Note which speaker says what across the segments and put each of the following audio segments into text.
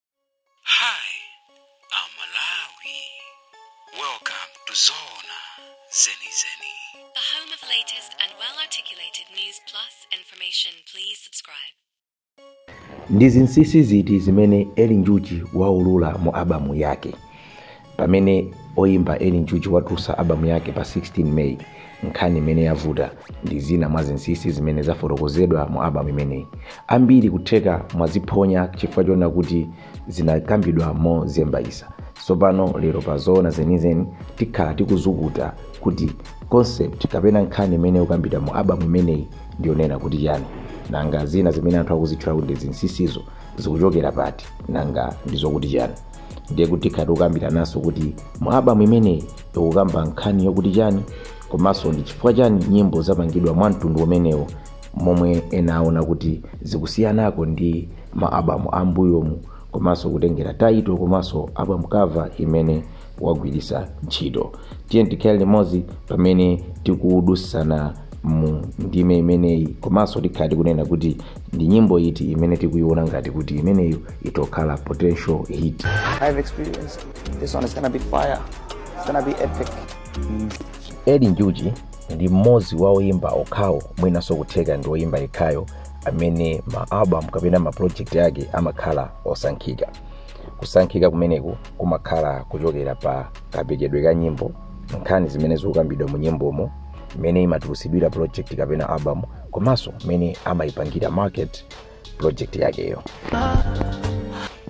Speaker 1: Hi, I'm Malawi. Welcome to Zona Zeni Zeni. The home of
Speaker 2: latest and well articulated news plus information. Please subscribe.
Speaker 3: ndi zinsinsi ziti zimene eli njuchi waulula mu abamu yake pamene oyimba eli njuchi watulutsa albamu yake pa 16 may nkhani imene yavuta ndi zina mwa zinsinsi zimene zafotokozedwa mu albamu imeneyi ambiri kutheka mwaziphonya chifukwa choona kuti zinakambidwa mozembayisa tsopano lero pa zoona zenizeni tikhala tikuzukuta kuti concept kapena nkhani imene ikukambidwa mu albamu imeneyi ndiyonena kuti chani nanga zina zimene anthu akuzitchula kuti ndi zinsinsizo zikuchokera pati nanga ndizokuti chani ndiye kuti tikhala tikukambirananso kuti mu album imeneyi ikukamba nkhani yokuti chani komanso ndi chifukwa chani nyimbo zapangidwa mwa mtundu umenewo momwe ena aona kuti zikusiyanako ndi ma album ambuyomu komanso kutengera title komanso album cover imene wagwiritsa ntchito tiyeni tikhale limodzi pamene tikudusana mu ndime imeneyi komanso tikhala tikunena kuti Ndi nyimbo iti imene tikuiona ngati kuti imeneyo itokhala potential hit? I've
Speaker 4: experienced. This one is gonna be fire. It's gonna be epic.
Speaker 3: Eli Njuchi ndi mmodzi wa oyimba okhawo mwinanso kutheka ndi oyimba yekhayo amene ma album kapena ma project ake amakhala osankhika kusankhika kumeneku kumakhala kuchokera pa kapekedwe ka nyimbo nkhani zimene zikukambidwa mu nyimbomo mmene imatulusidwira project kapena album komanso mmene amayipangira market project yakeyo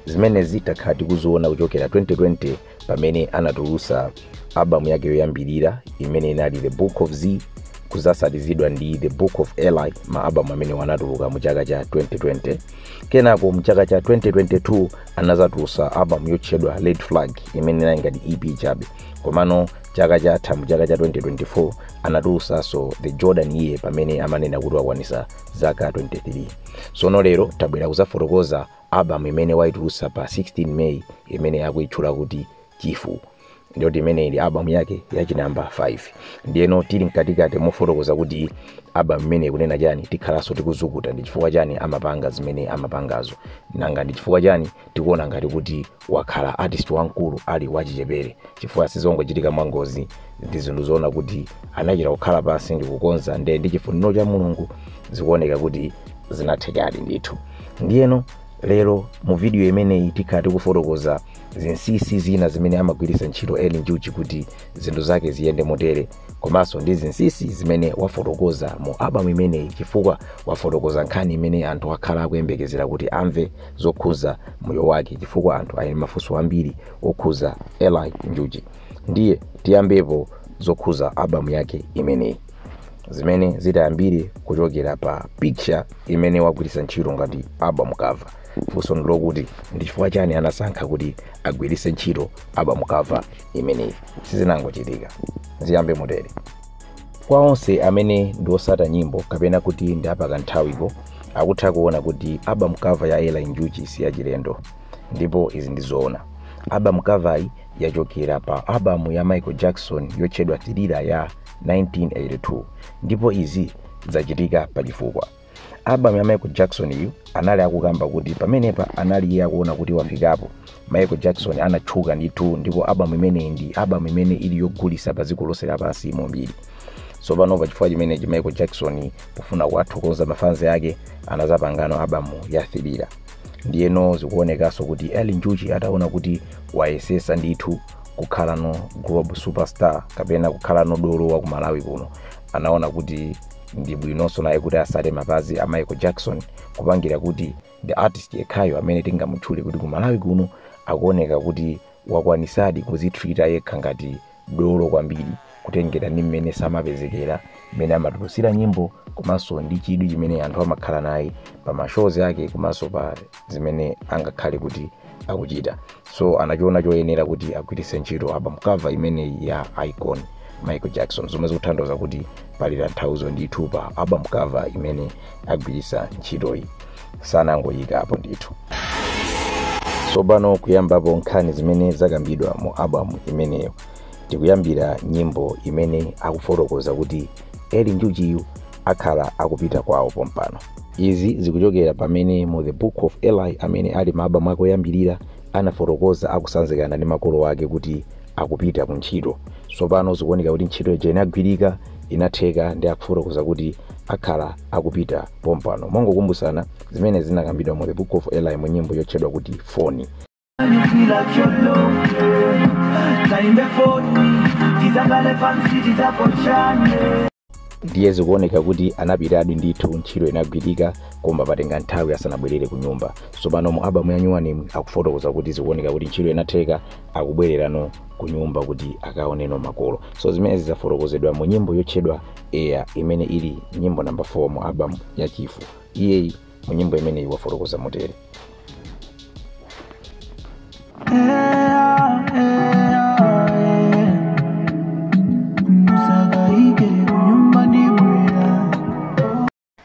Speaker 3: zimenezi takhala tikuziona kuchokera 2020 pamene anatulusa albamu yake yoyambirira imene inali the book of z kuzasatizidwa ndi the book of eli ma albamu amenewa anatuluka mu chaka cha 2020 kenako mu chaka cha 2022 anazatulusa albamu yotchedwa red flag imene inali ngati ep chabe komano chaka chatha mu chaka cha 2024 anatulusanso the jordan year pamene amanena kuti wakwanisa zaka 23 sono lero tabwera kuzafotokoza album imene waitulusa pa 16 may imene akuitchula kuti chifu ndiyo imene ili album yake yachinamba 5 ndiyeno tili mkatikati mofotokoza kuti album imeneyi ikunena chani tikhalanso tikuzukuta ndi chifukwa chani amapanga zimene amapangazo nanga ndi chifukwa chani tikuona ngati kuti wakhala artist wamkulu ali wachichepere chifukwa sizongochitika mwangozi ndi zinthu zoona kuti anachita kukhala pansi ndi kukonza nde ndi chifuniro cha mulungu zikuoneka kuti zinathekadi ndithu ndiyeno lero mu video imeneyi tikhala tikufotokoza zinsinsi zina zimene amagwiritsa ntchito eli njuchi kuti zinthu zake ziyende motere komanso ndi zinsinsi zimene wafotokoza mu album imeneyi chifukwa wafotokoza nkhani imene anthu akhala akuyembekezera kuti amve zokhuza moyo wake chifukwa anthu ali ndi mafunso ambiri okhuza eli njuchi ndiye tiyambepo zokhuza album yake imeneyi zimene zitayambire kuchokera pa picture imene wagwiritsa ntchito ngati album cover funso ndi lokuti ndi chifukwa chani anasankha kuti agwiritse ntchito album cover imeneyi sizinangochitika ziyambe motere kwa onse amene ndi osata nyimbo kapena kuti ndi apakanthawiko akutha kuona kuti album cover ya eli njuchi si yachilendo ndipo izi ndi zoona album cover yi yachokera pa album ya michael jackson yotchedwa thriller ya 1982 ndipo izi zachitika pa chifukwa album ya michael jackson yu anali akukamba kuti pamenepa anali iye akuona kuti wafikapo michael jackson anatchuka ndithu ndipo album imeneyi ndi album imene ili yogulisa pa dziko lonse lapansi mumbiri tsopano pa chifukwa chimenechi michael jackson pofuna kuwathokoza mafanzi ake anazapangano album ya thriller ndiyeno zikuonekanso kuti eli njuchi ataona kuti wayesesa ndithu kukhalano global superstar kapena kukhalano dolo wa ku malawi kuno anaona kuti ndi bwinonso naye kuti asate mapazi a michael jackson kupangira kuti the artist yekhayo amene tingamutchule kuti ku malawi kuno akuoneka kuti wakwanisadi kuzitreata yekha ngati dolo kwambiri kutengera ndi mmene samapezekera mmene amatulutsira nyimbo komanso ndi chidwi chimene anthu amakhala naye pa mashows ake komanso pa zimene angakhale kuti akuchita so anachiona choyenera kuti agwiritse ntchito album cover imeneyi ya icon michael jackson zomwe zikutanthauza kuti pali tanthauzo ndithu pa album cover imene agwiritsa ntchitoyi sanangoyikapo ndithu tsopano kuyambapo nkhani zimene zakambidwa mu album imeneyo tikuyambira nyimbo imene akufotokoza kuti eli njuchiyu akhala akupita kwawo pompano izi zikuchokera pamene mu the book of eli amene ali ma album ake oyambirira anafotokoza akusanzikana ndi makolo ake kuti akupita ku ntchito tsopano zikuoneka kuti ntchito ija inagwirika inatheka ndi akufotokoza kuti akhala akupita pompano mongokumbutsana zimene zinakambidwa mu the book of eli mu nyimbo yotchedwa kuti foni You feel like your love, yeah. Time before me, tizakhale pansi tizapochane. ndiye zikuoneka kuti anapitadi ndithu ntchito inagwirika koma patenga nthawi asanabwerere ku nyumba tsopano mu album ya nyuwanimu akufotokoza kuti zikuoneka kuti ntchito inatheka akubwererano ku nyumba kuti akaoneno makolo so zimenezi zafotokozedwa mu nyimbo yotchedwa eya imene ili nyimbo namba 4 mu album ya chifu iyeyi mu nyimbo imeneyi wafotokoza motere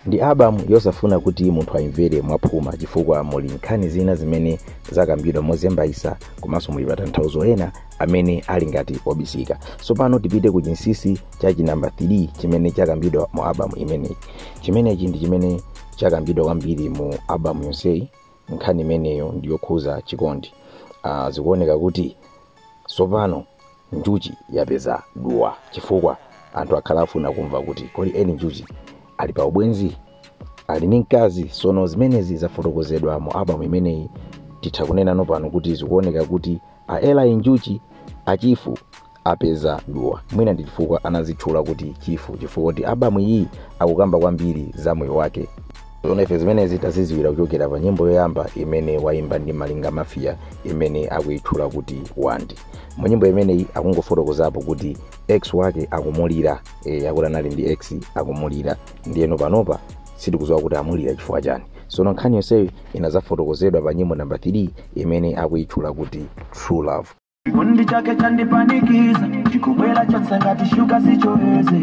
Speaker 3: ndi albamu yosafuna kuti munthu ayimvere mwaphuma chifukwa muli nkhani zina zimene zakambidwa mozembayisa komanso muli matanthauzo ena amene ali ngati obisika tsopano tipite ku chinsinsi cha chinamba 3 chimene chakambidwa mu albamu imeneyi chimenechi ndi chimene chakambidwa kwambiri mu albamu yonseyi nkhani imeneyo ndi yokhuza chikondi uh, zikuoneka kuti tsopano njuchi yapeza duwa chifukwa anthu akhala afuna kumva kuti kodi eli njuchi ali pa ubwenzi ali ndi mkazi tsono zimenezi zafotokozedwa mu albamu imeneyi titha kunena nopano kuti zikuoneka kuti a eli njuchi achifu apeza duwa mwina ndi chifukwa anazitchula kuti chifu chifukwa kuti albamu iyi akukamba kwambiri za moyo wake sono ife zimenezi taziziwira kuchokera pa nyimbo yoyamba imene waimba ndi malinga mafia imene akuyitchula kuti wandi mu nyimbo imeneyi akungofotokozapo kuti ex wake akumulira e, akuti anali ndi ex akumulira ndiyeno panopa sitikuziwa kuti amulira chifukwa chani sono nkhani yonseyo inazafotokozedwa pa nyimbo namba 3 imene akuyitchula kuti true love Chikondi
Speaker 5: chake chandipanikiza chikubwera chatsangati shuga sichoweze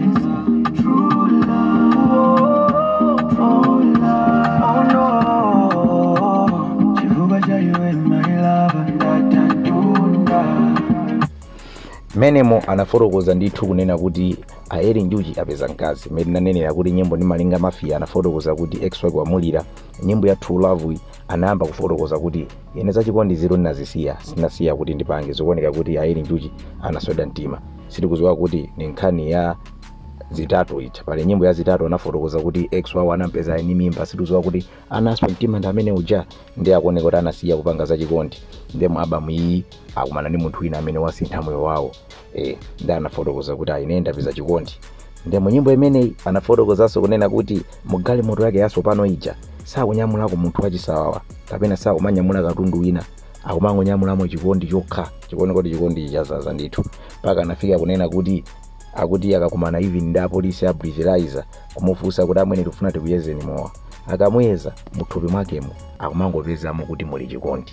Speaker 5: True love, true love. Oh no. Chifukwa cha iwe my love
Speaker 3: ndatandunda menemo anafotokoza ndithu kunena kuti a eli njuchi apeza mkazi mmene nanenera kuti nyimbo ndi malinga mafia anafotokoza kuti ex wake wamulira nyimbo ya true love anayamba kufotokoza kuti ine zachikondi ziro ndinazisiya sinasiya kuti ndipange zikuoneka kuti a eli njuchi anaswedwa mtima sitikuziwa kuti ni nkhani ya zitatu ija pali nyimbo ya zitatu anafotokoza kuti ex wawo anampeza ni mimba sitikuziwa kuti anaswa mtima ndi amene uja ndiye akuoneka kuti anasiya kupanga zachikondi nde mu album iyi akumana ndi munthu wina amene wasintha moyo wawo eh, ndi anafotokoza kuti ine ndapeza chikondi nde mu nyimbo imeneyi anafotokozanso kunena kuti mu galimoto yake yatsopano ija sakunyamulako munthu wachisawawa kapena sakumanyamula katundu wina akumangonyamulamo chikondi chokha chikuoneka kuti chikondi chazaza ndithu mpaka anafika kunena kuti akuti akakumana even ndi apolisi a breathalyzer kumufunsa kuti amwene tikufuna tikuyezeni mowa akamuyeza muthupi mwakemo akumangopezamo kuti muli chikondi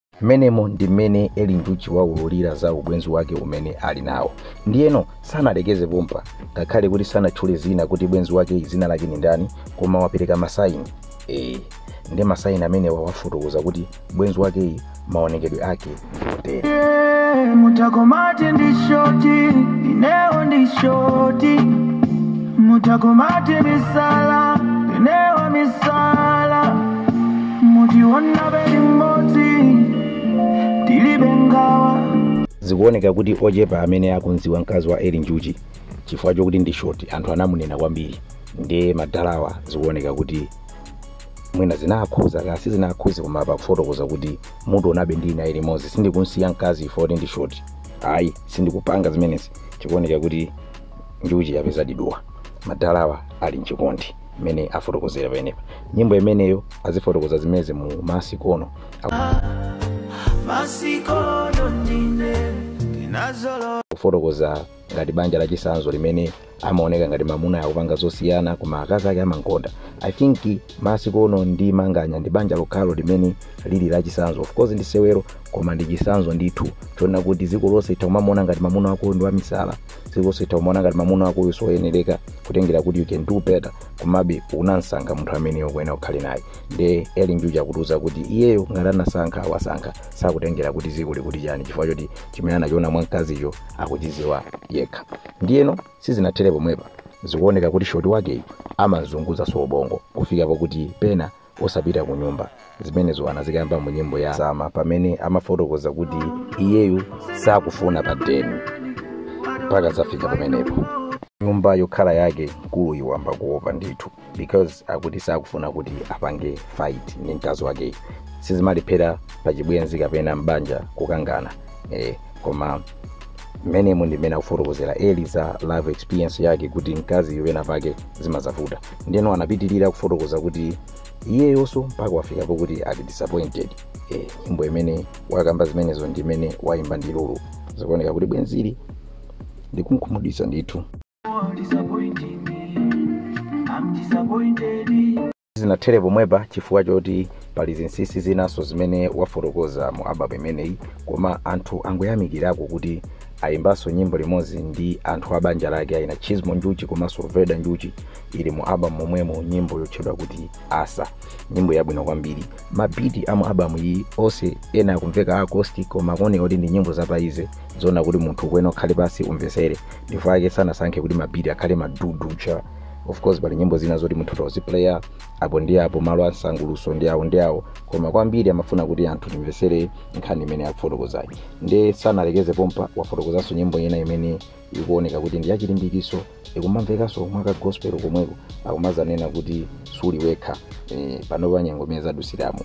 Speaker 3: mmenemo ndi mmene eli njuchi waululira za ubwenzi wake umene ali nawo ndiyeno sanalekeze pompa ngakhale kuti sanatchule zina kuti bwenzi wake dzina lake ni ndani koma wapereka masaini ee ndi masaini amenewa wafotokoza kuti bwenzi wakeyi maonekedwe ake ndi
Speaker 5: otere mutha kumati ndi shoti ineo ndi shoti mutha kumati misala ineo misala mutiwonabe limodzi tilibe ngawa zikuoneka
Speaker 3: kuti ochepa amene akumdziwa mkazi wa eli njuchi chifukwa chokuti ndi shoti anthu anamunena kwambiri ndiye madalawa zikuoneka kuti mwina zinakhuza kaya sizinakhuze koma apa akufotokoza kuti mutionabe ndi naye limodzi sindikumsiya mkazi chifukwa choti ndi shoti ayi sindikupanga zimenezi chikuoneka kuti njuchi yapezadi duwa madalawa ali mchikondi mmene afotokozera pamenepa nyimbo imeneyo azifotokoza zimenezi mu masikono masikono ndine
Speaker 5: ndinazolo kufotokoza
Speaker 3: ngati banja la chisanzo limene amaoneka ngati mamuna akupanga zosiyana koma akazi ake amankonda i think masikono ndi manganya ndi banja lokhalo limene lili la chisanzo of course ndi sewero koma ndi chisanzo ndithu chonena kuti dziko lonse litha kumamuona ngati mamuna wako ndi wamisala ziko lonse litha kumaona ngati mamuna wakoyo soyenereka kutengera kuti you can do better komabe unamsankha munthu ameneyo kunena ukhale naye nde eli njuchi akutiuza kuti iyeyo ngati anasankha wasankha sakutengera kuti ziko likuti chani chifukwa choti chimene anachiona mwa mkaziyo akuchiziwa yekha ndiyeno sizinathere pomwepa zikuoneka kuti shoti wakeyo amamzunguzaso bongo kufika pakuti pena osapita kunyumba. Zimenezo anazikamba mu nyimbo ya Sama pamene amafotokoza kuti iyeyo sakufuna pa deni mpaka zafika pamenepo. Nyumba yokhala yake mkuluyu wayamba kuopa ndithu because akuti sakufuna kuti apange fight ndi mkazi wakeyo. Sizimalephera pa chibwenzi kapena m'banja kukangana. Eh, koma mmenemo ndi mmene akufotokozera Eli za life experience yake kuti mkaziyo pena pake zimazavuta. ndeno anapitirira kufotokoza kuti iyeyonso mpaka wafika pokuti ali disappointed eh, nyimbo imene wakamba zimenezo ndi imene wayimba ndi lulu zikuoneka kuti bwenzili ndikunkhumudwitsa ndithu sizinathere pomwepa chifukwa choti pali zinsinsi zinanso zimene wafotokoza mu album imeneyi koma anthu angoyamikirako kuti Ayimbanso nyimbo limodzi ndi anthu a banja lake aina Chizmo Njuchi komanso Veda Njuchi ili mu album momwemo nyimbo yotchedwa kuti Asa. Nyimbo yabwino kwambiri. Mabiti a mu album iyi onse ena akumveka acoustic koma akuoneka kuti ndi nyimbo za paize zoona kuti munthu ukuyenera ukhale pansi umvetsere. Ndipo ake sanasankhe kuti mabiti akhale madudu cha of course pali nyimbo zina zoti munthu toziplaya apo ndi apo malo a nsanguluso ndi awo ndi awo koma kwambiri amafuna kuti anthu timvetsere nkhani imene akufotokozayi nde sanalekeze pompa wafotokozanso nyimbo ina imene ikuoneka kuti ndi yachilimbikiso ikumamvekanso mwaka gospel komweko akumazanena kuti suli wekha e, panopa nyengo imene zadusiramo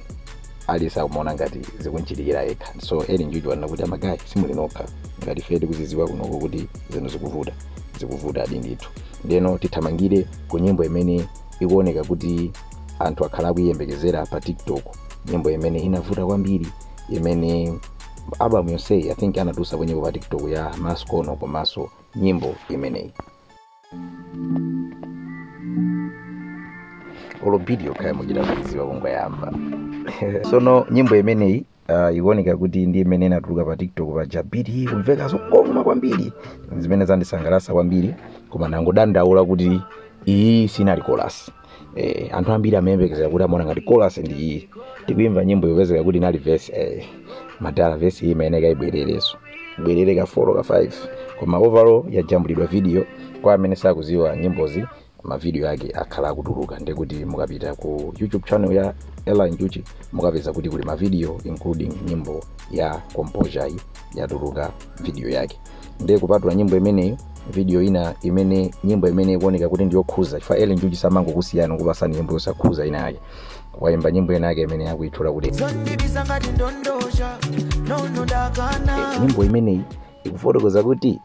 Speaker 3: aliyense akumaona ngati zikunchitikira yekha so eli njuchi wanena kuti amagayi simuli nokha ngati ife tikuziziwa kunoko kuti zinthu zikuvuta zikuvutadi ndithu ndeno tithamangire ku nyimbo imene ikuoneka kuti anthu akhala akuyiyembekezera pa tiktok nyimbo imene inavuta kwambiri imene album yonseyi i think anatulutsako nyimbo pa tiktok ya maskono komanso nyimbo imeneyi olo biti yokhayo muchita kuidziwa kungoyamba sono nyimbo imeneyi uh, ikuoneka kuti ndi imene inatuluka pa tiktok paja biti kumveka zokoma kwambiri zimene zandisangalatsa kwambiri koma ndangodandaula kuti iyi sinali kolasi eh, anthu ambiri amayembekezera kuti amaona ngati kolasi ndi iyi tikuimva nyimboyo pezeka kuti inali vesi eh, madala vesi iyi imayeneka ibwerereso ibwerere ka 4 ka 5 koma overall yajambulidwa video kwa amene sakuziwa nyimbozi ma video ake akhala akutuluka ndekuti mukapita ku youtube channel ya eli njuchi mukapeza kuti kuli ma video including nyimbo ya composure yi yatuluka video yake nde kupatula nyimbo imeneyo video ina imene nyimbo imene ikuoneka kuti ndiyokhuza chifukwa eli njuchi samangokusiyana kupasani nyimbo yosakhuza ina yake waimba nyimbo ina yake imene akuitchula kuti osandibisa ngati ndondocha nono ndakana nyimbo imeneyi ikufotokoza kuti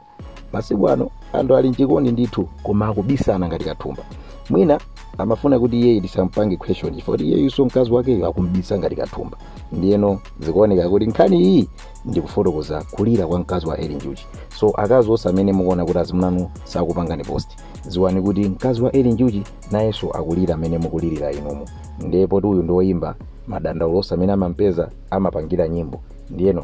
Speaker 3: masiku ano anthu ali mchikondi ndithu koma akubisana ngati kathumba mwina amafuna kuti iyeyi tisampange question chifukwa kuti iyeyinso mkazi wakeyo akumbisa ngati kathumba ndiyeno zikuoneka kuti nkhani iyi ndikufotokoza kulira kwa mkazi wa eli njuchi so akazi onse amene mukuona kuti azimunanu sakupangani post ziwani kuti mkazi wa eli njuchi nayenso akulira mmene mukulirira inumu ndipo kuti uyu ndi woyimba madandaulo onse amene amampeza amapangira nyimbo ndiyeno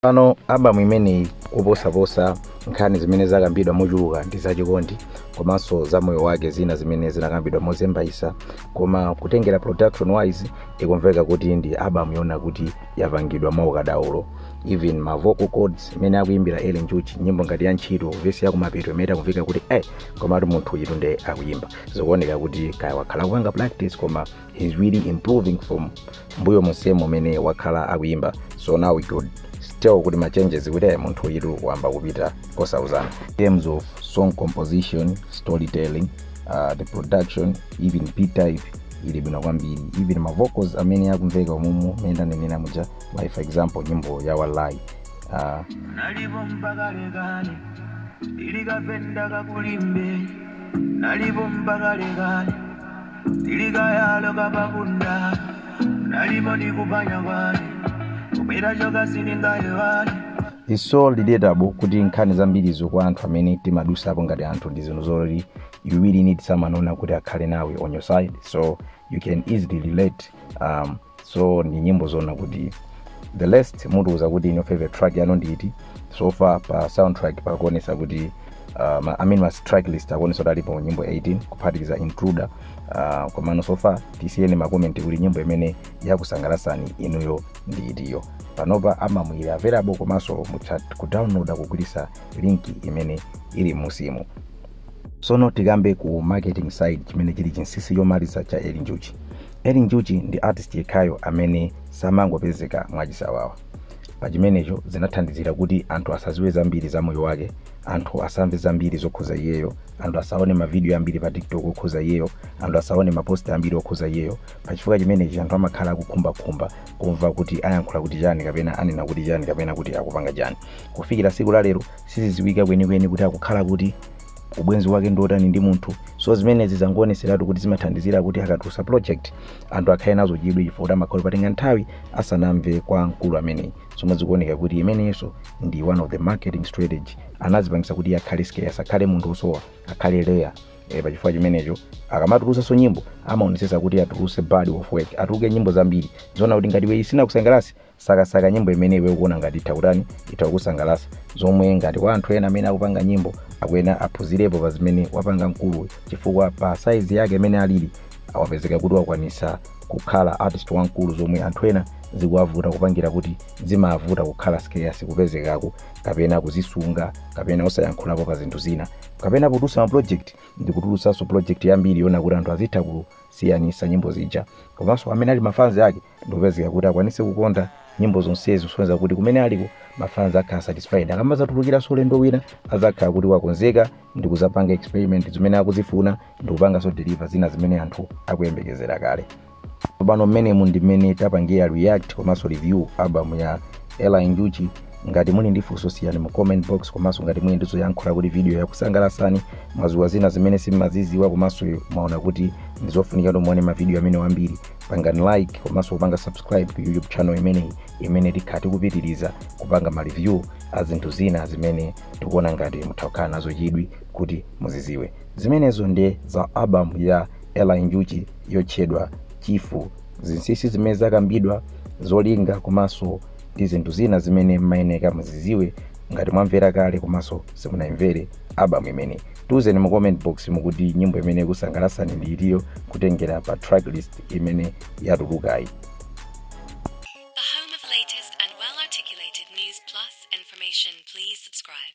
Speaker 3: pano album imeneyi koposaposa nkhani zimene zakambidwa mochuluka ndi zachikondi komanso za moyo wake zina zimene zinakambidwa mozembayisa koma kutengera production wise ikumveka kuti ndi album yoona kuti yapangidwa mwaukadaulo even ma vocal cords mmene akuimbira eli njuchi nyimbo ngati ya ntchito vesi yakumapeto imene akumveka kuti eh komatu munthu uyitu nde akuyimba zikuoneka kuti kaya wakhala kupanga practice koma he's really improving from mbuyo monsemo umene wakhala akuyimba so now we could tell kuti ma changes kuti ayi munthu uyitu wayamba kupita kosauzana in terms of song composition storytelling uh, the production even beat type ili bwino kwambiri even ma vocals amene akumveka umumu mmene ndanenera muja like for example nyimbo ya walai
Speaker 5: uh, nalipo mpaka lekale ilikapenda kakulimbe nalipo mpaka lekale Tilikayalo kapakunda Nalimo nikupanya kwani Kumira choka siningayewani It's so
Speaker 3: relatable kuti nkhani zambirizo kwa anthu amene timadusapo ngati anthu ndi zinthu zoti you really need someone woona kuti akhale nawe on your side so you can easily relate um, so ndi nyimbo zoona kuti the last mutiuze kuti inu favorite track yanu ndi iti so far pa soundtrack pakuonesa kuti uh, ma- I mean ma track list akuonesa kuti alipo nyimbo 18 kuphatikiza intruder uh, komano so far tisiyireni makomenti kuti nyimbo imene yakusangalasani inuyo ndi itiyo panopa amamwira available komanso mutha kudownloada kugwiritsa linki imene ili musimu sono tikambe ku marketing side chimene chili chinsisi chomaliza cha eli njuchi eli njuchi ndi artist yekhayo amene samangopezeka mwachisawawa pa chimenecho zinathandizira kuti anthu asaziwe zambiri za moyo wake anthu asamve zambiri zokhuza iyeyo anthu asaone mavidiyo ambiri pa tiktok okhuza iyeyo anthu asaone maposti ambiri okhuza iyeyo pa chifukwa chimenechi anthu amakhala akukhumbakhumba kumva kuti ayankhula kuti chani kapena anena kuti chani kapena kuti akupanga chani kufikira siku la lero Sizidziwika kwenikweni kuti akukhala kuti, ubwenzi wake ndi wotani ndi munthu. So zimenezi zangooneseratu kuti zimathandizira kuti akatulutsa project anthu akhale nazo chidwi chifukwa kuti amakhala patenga nthawi asanamve kwa mkulu ameneyi. Zomwe zikuoneka kuti imeneyinso ndi one of the marketing strategy. Anadzipangitsa kuti iye akhale scarce, akhale munthu wosowa, akhale rare. Eh, pa chifukwa chimenecho akamatulutsanso nyimbo amaonetsetsa kuti atulutse body of work, atuluke nyimbo zambiri. Zoona kuti ngati iwe sinakusangalatse sakasaka nyimbo imene iwe ukuona ngati itha kutani itha kukusangalasa zomwe ngati kwa anthu ena amene akupanga nyimbo akuyenera aphunzirepo pa zimene wapanga mkuluyu chifukwa pa saizi yake imene alili awapezeka kuti wakwanisa kukhala artist wamkulu zomwe anthu ena zikuwavuta kupangira kuti zimavuta kukhala scarce kupezekako kapena kuzisunga kapena osayankhulapo pa zinthu zina kapena kutulutsa ma project ndi kutulutsanso project yambiri yoona kuti anthu azitha kusiyanisa nyimbo zija komanso amene ali mafanzi ake ndi kupezeka kuti akwanise kukonda nyimbo zonsezi kusonyeza kuti kumene aliko mafans akhala satisfied akamazatulukiranso ulendo wina azakhala kuti wakonzeka ndi kuzapanga experiment zimene akuzifuna ndi kupanganso deliver zina zimene anthu akuyembekezera kale pano mmenemu ndi mmene tapangira react komanso review album ya eli njuchi ngati muli ndi funso siyani mu comment box komanso ngati muli ndi zoyankhula kuti video yakusangalasani mwaziwa zina zimene simumaziziwa komanso mwaona kuti ndizofunika kuti muone mavidiyo amenewa ambiri pangani like komanso kupanga subscribe ku youtube channel imeneyi imene tikhala tikupitiriza kupanga ma review a zinthu zina zimene tikuona ngati mutha kukhala nazo chidwi kuti muziziwe zimenezo ndiye za album ya eli njuchi yotchedwa chifu zinsinsi zimene zakambidwa zolinga komanso ndi zinthu zina zimene mmayeneka muziziwe ngati mwamvera kale komanso simunayimvere album imeneyi tiuzeni mu comment box mukuti nyimbo imene ikusangalasani ndi itiyo kutengera pa tracklist imene yatulukayi
Speaker 2: The home of latest and well articulated news plus information. Please subscribe.